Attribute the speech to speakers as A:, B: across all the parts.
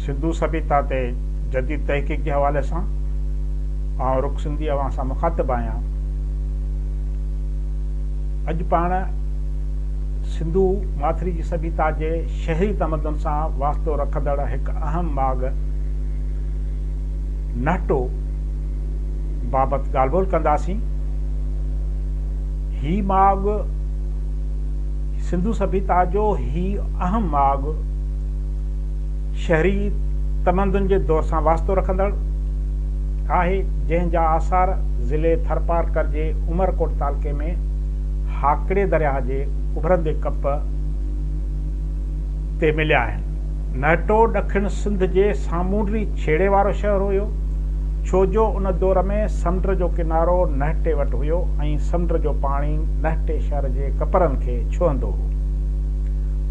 A: سنڌو سڀيتا تي جديد تحقيق جي حوالي سان آئون رڪ سنڌي اوهان سان مخاطب آهيان. اڄ پاڻ سنڌو ماٿري جي سڀيتا جي شهري تمدن سان واسطو رکندڙ هڪ اهم ماڳ نهٽو بابت ڳالهه ٻولهه ڪنداسين. هي ماڳ سنڌو سڀيتا جو هي اهم ماڳ شهري تمدن جي دور سان واسطو رکندڙ آهي جنهن جا آثار ضلعي ٿرپارڪر جي عمرڪوٽ تعلقي ۾ هاڪڙي درياهه جي اڀرندي ڪپ تي مليا آهن. مهٽو ڏکڻ سنڌ جي سامونڊي ڇيڙي وارو شهر هيو، ڇو جو ان دور ۾ سمنڊ جو ڪنارو مهٽي وٽ هيو ۽ سمنڊ جو پاڻي مهٽي شهر جي ڪپرن کي ڇهندو هو.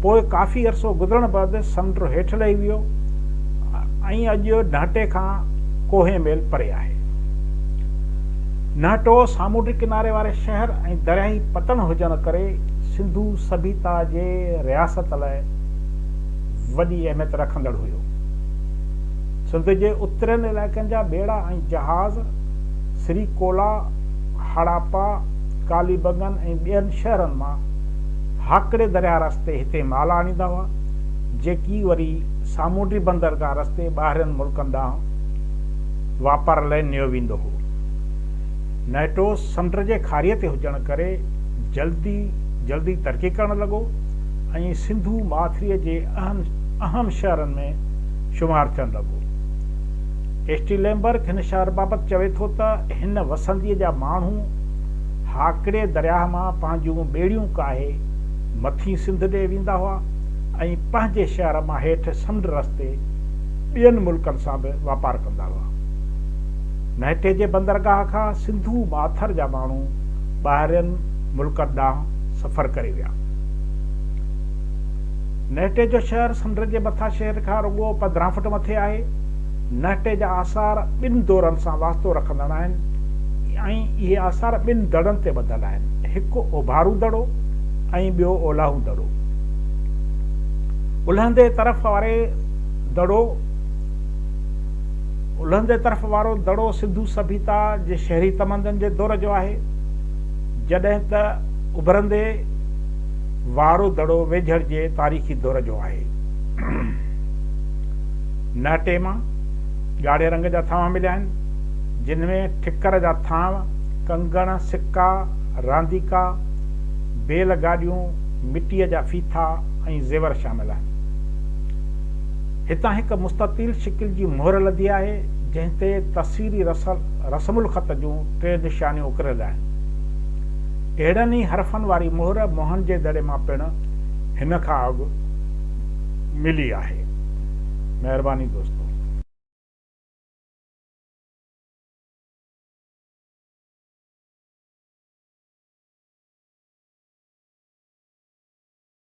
A: پوء ڪافي عرصو گذرڻ بعد سمنڊ هيٺ لهي ويو ۽ اڄ نهٽي کان ڪوهين ميل پري آهي. نهٽو سامونڊي ڪناري واري شهر ۽ درياهي پتڻ هجڻ ڪري سنڌو سڀيتا جي رياست لاء وڏي اهميت رکندڙ هيو. سنڌ جي اترين علائقن جا ٻيڙا ۽ جهاز سري ڪولا، هڙاپا، ڪالي بنگن ۽ ٻين شهرن مان هاڪڙي درياهه رستي هتي مال آڻيندا هئا، جيڪي وري سامونڊي بندرگاهه رستي ٻاهرين ملڪن ڏانهن واپار لئه نيو ويندو هو. نئٽوس سمنڊ جي کاريء تي هجڻ ڪري جلدي جلدي ترقي ڪرڻ لڳو. ۽ سنڌو ماٿريء جي اهم شهرن ۾ شمار ٿيڻ لڳو. ايسٽيلينبرگ هن شهر بابت چوي ٿو ته هن وسنديء جا ماڻهو هاڪڙي درياهه مان پنهنجون ٻيڙيون ڪاهي مٿي سنڌ ڏي ويندا هئا ۽ پنهنجي شهر مان هيٺ سمنڊ رستي ٻين ملڪن سان به واپار ڪندا هئا. مهٽي جي بندرگاهه کان سنڌو ماٿر جا ماڻهو ٻاهرين ملڪن ڏانهن سفر ڪري ويا. نهٽي جو شهر سمنڊ جي مٿان شهر کان رڳو 15 فوٽ مٿي آهي نهٽي جا آثار ٻن دورن سان واسطو رکندڙ آهن ۽ اهي آثار ٻن دڙن تي ٻڌل آهن هڪ اوڀارون دڙو ۽ ٻيو اولاهون دڙو الهندي طرف وارو دڙو سنڌو سڀيتا جي شهري تمدن جي دور جو آهي جڏهن ته اڀرندي وارو دڙو ويجهڙ جي تاريخي دور جو آهي. نهٽي مان ڳاڙهي رنگ جا ٿانو مليا آهن، جن ۾ ٺڪر جا ٿانو، ڪنگڻ، سڪا، رانديڪا، بيل گاڏيون، مٽيء جا ڦيٿا ۽ زيور شامل آهن. هتان هڪ مستطيل شڪل جي مهر لڌي آهي، جنهن تي تصويري رسم الخط جون ٽي نشانيون اڪريل آهن. اهڙن ئي حرفن واري مهر موهن جي دڙي مان پڻ هن کان اڳ ملي آهي. مهرباني دوستو.